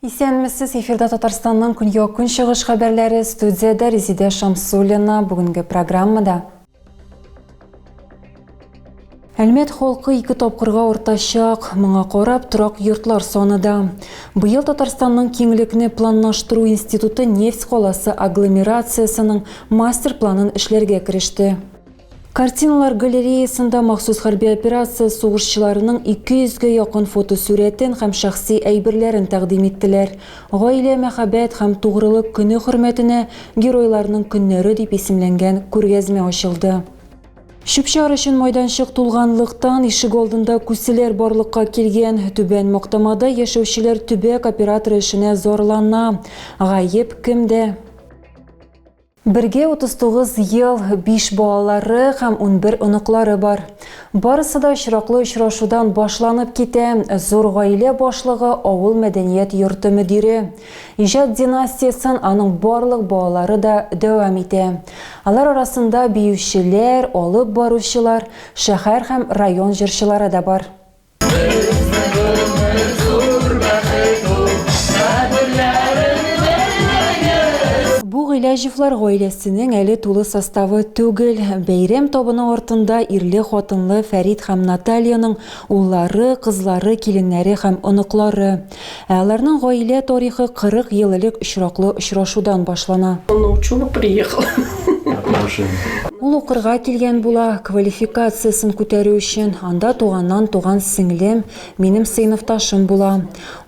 Исәнмесез, эфирда Татарстанның көньяк-көнчыгыш хәбәрләре, студиядә Резидә Шамсуллина. Бүгенге программада Әлмәт халкы ике тапкырга артачак, моңа карап торак йортлар саны да. Быел Татарстанның киңлекне планлаштыру институты нефть каласы агломерациясенең мастер планын эшләргә кереште. Картиналар галереясында махсус хәрби операция сугышчыларының 200 гә якын фотосурәтен һәм шәхси әйберләрен тәкъдим иттеләр. Гаилә, мәхәббәт һәм тугрылык көне хөрмәтенә Геройларның көннәре дип исемләнгән күргәзмә ачылды. Чүп-чар өчен майданчык тулганлыктан, ишегалдында күселәр барлыкка килгән. Түбән Мактамада яшәүчеләр төбәк операторы эшенә зарлана. Гаеп кемдә? Бергә 39 ел, биш балалары һәм унбер оныклары бар. Барысы да очраклы очрашудан башланып китә, зур гаилә башлыгы, авыл мәдәният йорты мөдире. Иҗат династиясен аның барлык балалары да дәвам итә. Алар арасында биючеләр, алып баручылар, шәһәр һәм район җырчылары да бар. Бу Гыйләҗевлар гаиләсенең әле тулы составы түгел. Бәйрәм табыны артында ирле-хатынлы Фәрит һәм Натальяның уллары, кызлары, киленнәре һәм оныклары. Ә аларның гаилә тарихы 40 ел элек очраклы очрашудан башлана. Он научуга приехал. Ул укырга килгән була, квалификациясен күтәрү өчен, анда туганнан туган сеңлем, минем сыйныфташым була.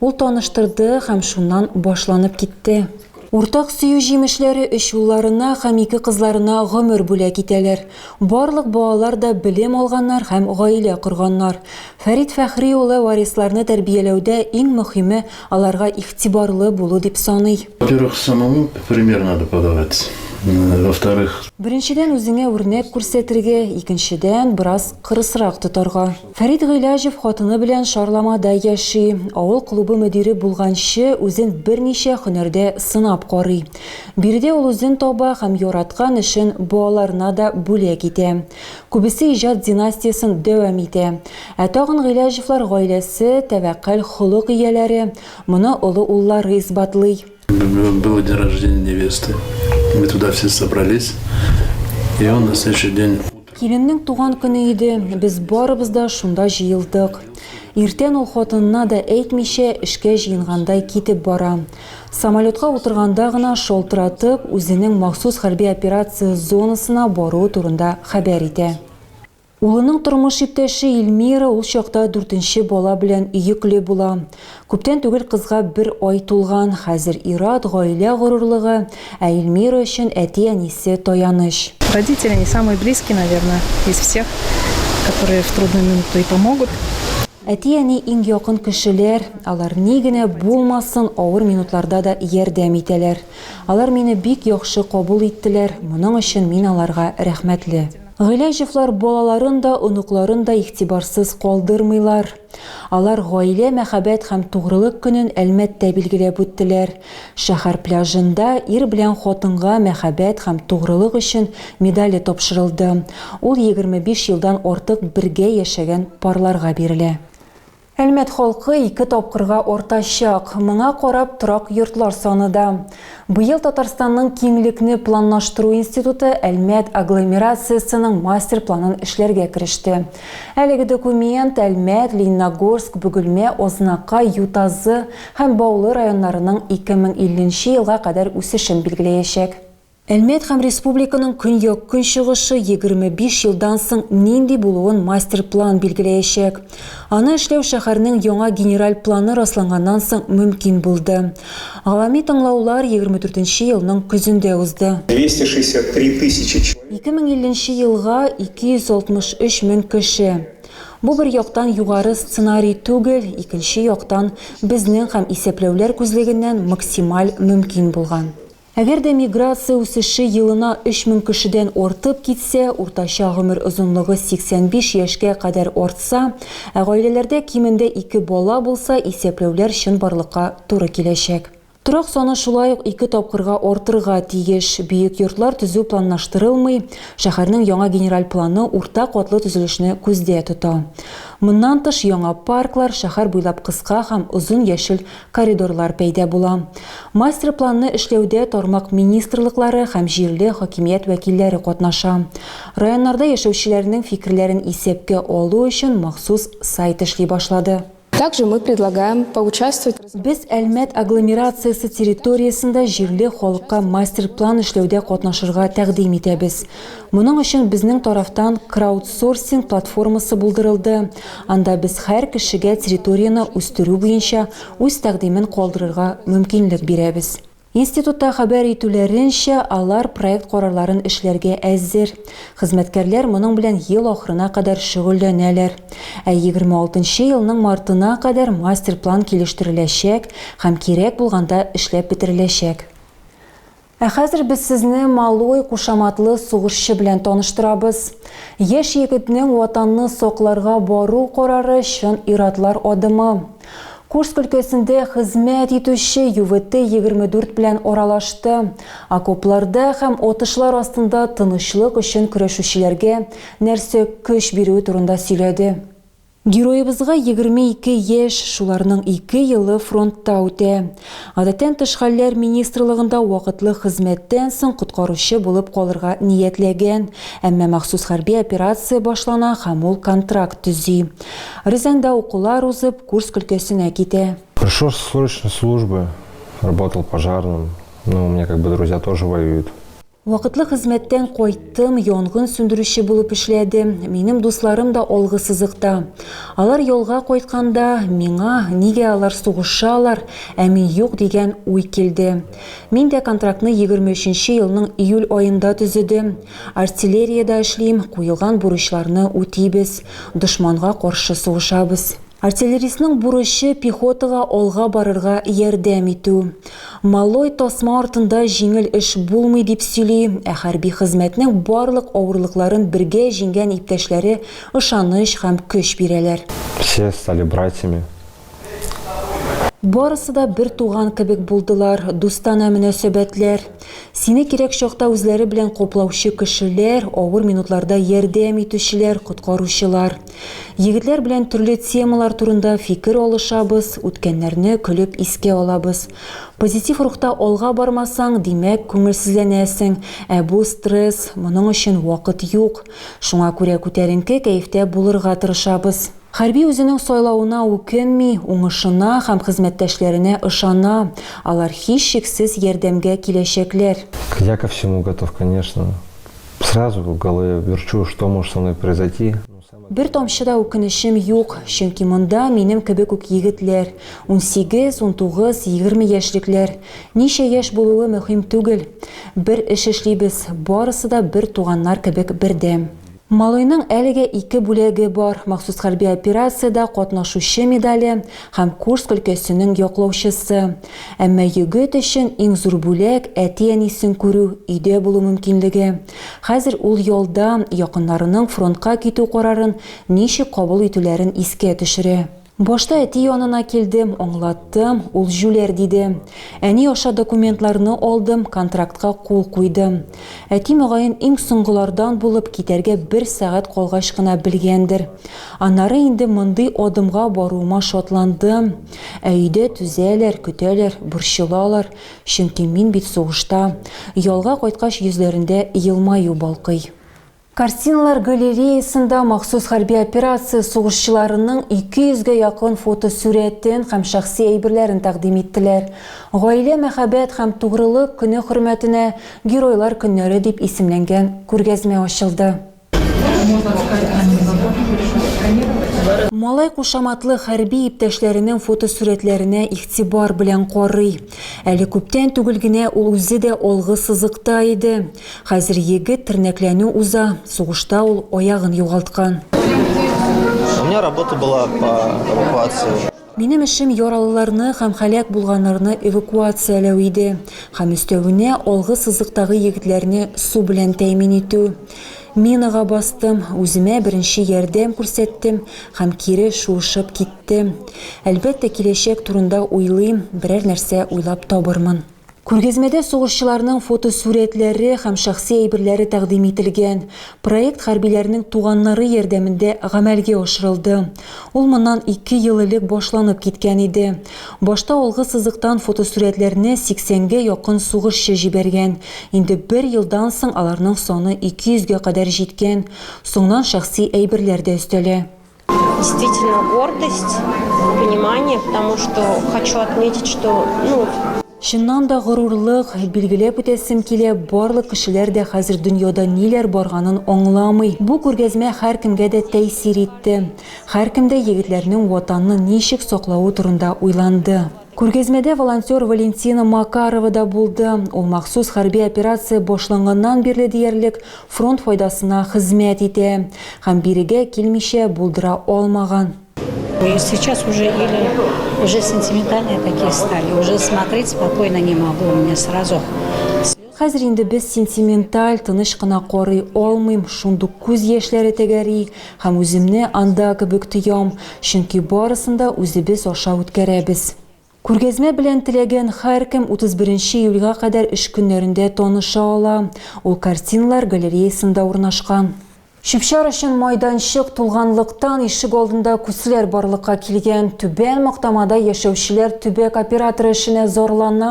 Ул таныштырды һәм шуннан башланып китте. Уртак сөю җимешләре өч улларына һәм ике кызларына гомер бүләк итәләр. Барлык балалар да белем алганнар һәм гаилә корганнар. Фәрит Фәхри улы варисларны тәрбияләүдә иң мөхиме, аларга игътибарлы булу дип саный. Во-первых, самому пример надо подавать, во-вторых. Беренчедән, үзеңә үрнәк күрсәтергә, икенчедән, бераз кырысрак тотарга. Фәрит Гыйләҗев хатыны белән Шарламада яши. Авыл клубы мөдире булганчы, үзен берничә һөнәрдә сынап карый. Биредә ул үзен таба һәм яраткан эшен балаларына да бүләк итә. Күбесе иҗат династиясен дәвам итә. Ә тагын Гыйләҗевлар гаиләсе, тәвәккәл холык ияләре. Моны олы уллары исбатлый. Наверное, был день рождения невесты. Мы туда все собрались. И он на следующий день... Киленнең туган көне иде, без барыбыз да шунда җыелдык. Иртән ул хатынына да әйтмичә эшкә җыенгандай китеп бара. Самолетка утырганда гына шалтыратып, үзенең махсус хәрби операция зонасына баруы турында хәбәр итә. Улының тормыш иптәше Ильмира ул чакта дүртенче бала белән йөкле була. Күптән түгел кызга бер ай тулган. Хәзер ир-ат, гаилә горурлыгы, ә Ильмира өчен әти-әнисе, таяныч. Родители, они самые близкие, наверное, из всех, которые в трудную минуту и помогут. Әти-әни, иң якын кешеләр, алар ни генә булмасын, авыр минутларда да ярдәм итәләр. Алар мине бик яхшы кабул иттеләр, моның өчен мин аларга рәхмәтле. Гыйләҗевлар балаларын да, оныкларын да игътибарсыз калдырмыйлар. Алар Гаилә, мәхәббәт һәм тугрылык көнен Әлмәттә билгеләп үттеләр. Шәһәр пляжында Ир белән хатынга мәхәббәт һәм тугрылык өчен медале тапшырылды. Ул егерме биш елдан артык бергә яшәгән парларга бирелә. Әлмәт халкы ике тапкырга артачак, моңа карап торак йортлар саны да. Быел Татарстанның киңлекне планлаштыру институты Әлмәт агломерациясенең мастер планын эшләргә кереште. Әлеге документ Әлмәт, Лениногорск, Бөгелмә, Азнакай, Ютазы һәм Баулы районнарының 2050 нче елга кадәр үсешен билгеләячәк. Әлмәт һәм республиканың көньяк-көнчыгышы 25 елдан соң нинди булуын мастер-план билгеләячәк. Аны эшләү шәһәрнең яңа генераль планы расланганнан соң мөмкин булды. Гавами тыңлаулар 24 елның көзендә узды. 263 тысячи человек. 2050 нче елга 263 мең кеше. Бу бер яктан югары сценарий түгел, икенче яктан, безнең һәм исәпләүләр күзлегеннән максималь мөмкин булган. Әгәр дә миграция үсеше елына 3000 кешедән артып китсә, уртача гомер озынлыгы 85 яшькә кадәр артса, ә гаиләләрдә кимендә ике бала булса, исәпләүләр чынбарлыкка туры киләчәк. Торак саны шулай ук ике тапкырга артырга тиеш. Бөек йортлар төзү планлаштырылмый, шәһәрнең яңа генераль планы урта катлы төзелешне күздә тота. Моннан тыш, яңа парклар, шәһәр буйлап кыска һәм озын яшел коридорлар пәйда була. Мастер-планны эшләүдә тармак министрлыклары һәм җирле хакимият вәкилләре катнаша. Районнарда яшәүчеләрнең фикерләрен исәпкә алу өчен махсус сайт эшли башлады. Также мы предлагаем поучаствовать в. Без Әлмәт агломерациясе территориясендә җирле халыкка мастер-план эшләүдә катнашырга тәкъдим итәбез. Моның өчен безнең тарафтан краудсорсинг платформасы булдырылды. Анда без һәр кешегә территорияне үстерү буенча үз тәкъдимен калдырырга мөмкинлек бирәбез. Институтта хәбәр итүләренчә, алар проект карарларын эшләргә әзер. Хезмәткәрләр моның белән ел ахырына кадәр шөгыльләнәләр. Ә 26 нчы елның мартына кадәр мастер-план килештереләчәк һәм кирәк булганда эшләп бетереләчәк. Ә хәзер без сезне Малой кушаматлы сугышчы белән таныштырабыз. Яшь егетнең Ватанны сакларга бару карары чын ир-атлар адымы. Курск өлкәсендә хезмәт итүче ЮВТ-24 белән аралашты, окопларда һәм атышлар астында тынычлык өчен көрәшүчеләргә нәрсә көч бирүе турында сөйләде. Героебызга егерме ике яшь, шуларның ике елы фронтта үтә. Гадәттән тыш хәлләр министрлыгында вакытлы хезмәттән соң коткаручы булып калырга ниятләгән, әмма махсус хәрби операция башлана һәм ул контракт төзи. Рязаньда укулар узып, Курск өлкәсенә китә. Пришел со срочной службы, работал пожарным, ну, у меня как бы друзья тоже воюют. Вакытлы хезмәттән кайттым, янгын сүндерүче булып эшләдем. Минем дусларым да алгы сызыкта. Алар ялга кайтканда, миңа, нигә алар сугышалар, ә мин юк, дигән уй килде. Мин дә контрактны егерме өченче елның июль аенда төзедем. Артиллериядә эшлим, куелган бурычларны үтибез, дошманга каршы сугышабыз. Артиллеристның бурычы пехотага алга барырга ярдәм итү. Малой тасма артында җиңел эш булмый, дип сөйли, ә хәрби хезмәтнең барлык авырлыкларын бергә җиңгән иптәшләре ышаныч һәм көч бирәләр. Все стали братьями. Барысы да бер туган кебек булдылар, дустанә мөнәсәбәтләр. Сине кирәк чакта үзләре белән коплаучы кешеләр, авыр минутларда ярдәм итүчеләр, коткаручылар. Егетләр белән төрле темалар турында фикер алышабыз, үткәннәрне көлеп искә алабыз. Позитив рухта алга бармасаң, димәк, күңелсезләнәсең, ә бу стресс, моның өчен вакыт юк. Шуңа күрә күтәренке кәефтә булырга тырышабыз. Хәрби үзенең сайлавына үкенми, уңышына һәм хезмәттәшләренә ышана, алар һичшиксез ярдәмгә киләчәкләр. Я ко всему готов, конечно. Сразу в голове верчу, что может со мной произойти. Бер тамчы да үкенечем юк, чөнки монда минем кебек үк егетләр, унсигез, унтугыз, егерме яшьлекләр. Ничә яшь булуы мөһим түгел. Бер эш эшлибез, барысы да бер туганнар кебек бердәм. Малыйның әлегә ике бүләге бар, махсус хәрби операциядә катнашучы медале, һәм Курск өлкәсенең яклаучысы. Әмма егет өчен иң зур бүләк, әти-әнисен күрү, өйдә булу мөмкинлеге. Хәзер ул ялда, якыннарының фронтка китү карарын ничек кабул итүләрен искә төшерә. Башта әти янына килдем, аңлаттым, ул җүләр диде. Әни аша документларны алдым, контрактка кул куйдым. Әти, мөгаен, иң соңгылардан булып, китәргә бер сәгать калгач кына белгәндер. Аннары инде мондый адымга баруыма шатландым. Ә өйдә түзәләр, көтәләр, борчылалар, чөнки мин бит сугышта. Ялга кайткач йөзләрендә елмаю балкый. Картиналар галереясында махсус хәрби операция сугышчыларының 200 гә якын фотосурәтен һәм шәхси әйберләрен тәкъдим иттеләр. Гаилә, мәхәббәт һәм тугрылык көне хөрмәтенә Геройлар көннәре дип исемләнгән күргәзмә ачылды. Малай кушаматлы хәрби иптәшләренең фотосурәтләренә игътибар белән карый. Әле күптән түгел генә ул үзе дә алгы сызыкта иде. Хәзер егет тернәкләнү уза, сугышта ул аягын югалткан. Минем эшем яралыларны һәм һәлак булганнарны эвакуацияләү иде һәм өстәвенә алгы сызыктагы егетләрне су белән тәэмин итү. Минага бастым, үземә беренче ярдәм күрсәттем һәм кире шуышып киттем. Әлбәттә, киләчәк турында уйлыйм, берәр нәрсә уйлап табырмын. Күргәзмәдә сугышчыларның фотосурәтләре һәм шәхси әйберләре тәкъдим ителгән. Проект хәрбиләрнең туганнары ярдәмендә гамәлгә ашырылды. Ул моннан ике ел элек башланып киткән иде. Башта алгы сызыктан фотосурәтләрне 80 гә якын сугышчы җибәргән, инде бер елдан соң аларның саны 200 гә кадәр җиткән, соңнан шәхси әйберләр дә өстәлә. Действительно гордость, понимание, потому что хочу отметить, что, ну, Чыннан да горурлык, билгеләп үтәсем килә, барлык кешеләр дә хәзер дөньяда ниләр барганын аңламый. Бу күргәзмә һәркемгә дә тәэсир итте. Һәркем дә егетләрнең Ватанны ничек саклавы турында уйланды. Күргәзмәдә волонтер Валентина Макарова да булды. Ул махсус хәрби операция башланганнан бирле диярлек фронт файдасына хезмәт итә һәм бирегә килмичә булдыра алмаган. Сейчас уже или уже сентиментальные такие стали, уже смотреть спокойно не могу, у меня сразу слезы. Хәзер инде без сентименталь, тыныч кына карый алмыйм, шундук күз яшьләре тәгәри, һәм үземне анда кебек тоям, чөнки барысын да үзебез аша үткәрәбез. Күргәзмә белән теләгән һәркем 31 июльгә кадәр эш көннәрендә таныша ала, ул картиналар галереясында урнашкан. Чүп-чар өчен майданчык тулганлыктан, ишегалдында күсләр барлыкка килгән. Түбән Мактамада яшәүчеләр төбәк операторы эшенә зарлана.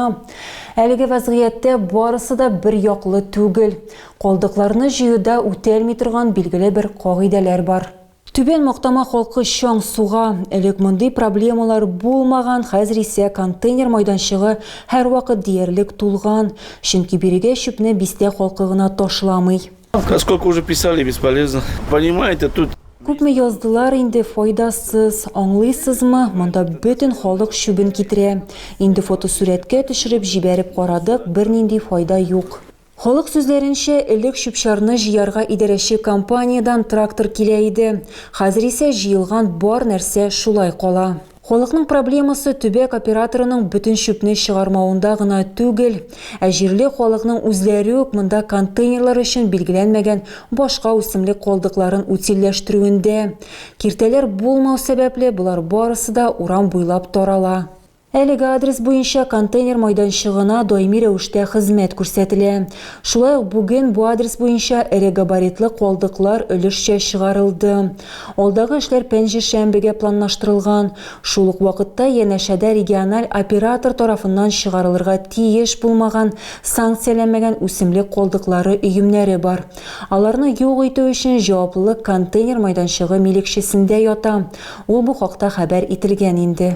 Әлеге вәзгыятьтә барысы да бер яклы түгел. Калдыкларны җыюда үтәлми торган билгеле бер кагыйдәләр бар. Түбән Мактама халкы чаң суга. Элек мондый проблемалар булмаган, хәзер исә контейнер майданчыгы һәрвакыт диярлек тулган. Чөнки бирегә чүпне бистә халкы гына ташламый. Сколько уже писали, бесполезно. Понимаете, тут Күпме яздылар инде, файдасыз. Аңлыйсызмы, монда бөтен халык чүбен китерә. Инде фотосурәткә төшереп җибәреп карадык, бернинди файда юк. Халык сүзләренчә, элек чүп-чарны җыярга идарәче компаниядән трактор килә иде. Хәзер исә җыелган бар нәрсә шулай кала. Халыкның проблемасы төбәк операторының бөтен чүпне чыгармавында гына түгел, ә җирле халыкның үзләре үк монда контейнерлар өчен билгеләнмәгән башка үсемлек калдыкларын утильләштерүендә. Киртәләр булмау сәбәпле, болар барысы да урам буйлап тарала. Әлеге адрес буенча контейнер майданчыгына даими рәвештә хезмәт күрсәтелә. Шулай ук бүген бу адрес буенча эре габаритлы калдыклар өлешчә чыгарылды. Алдагы эшләр пәнҗешәмбегә планлаштырылган. Шул ук вакытта янәшәдә региональ оператор тарафыннан чыгарылырга тиеш булмаган, санкцияләнмәгән үсемлек калдыклары өемнәре бар. Аларны юк итү өчен җаваплылык контейнер майданчыгы милекчесендә ята. Ул бу хакта хәбәр ителгән инде.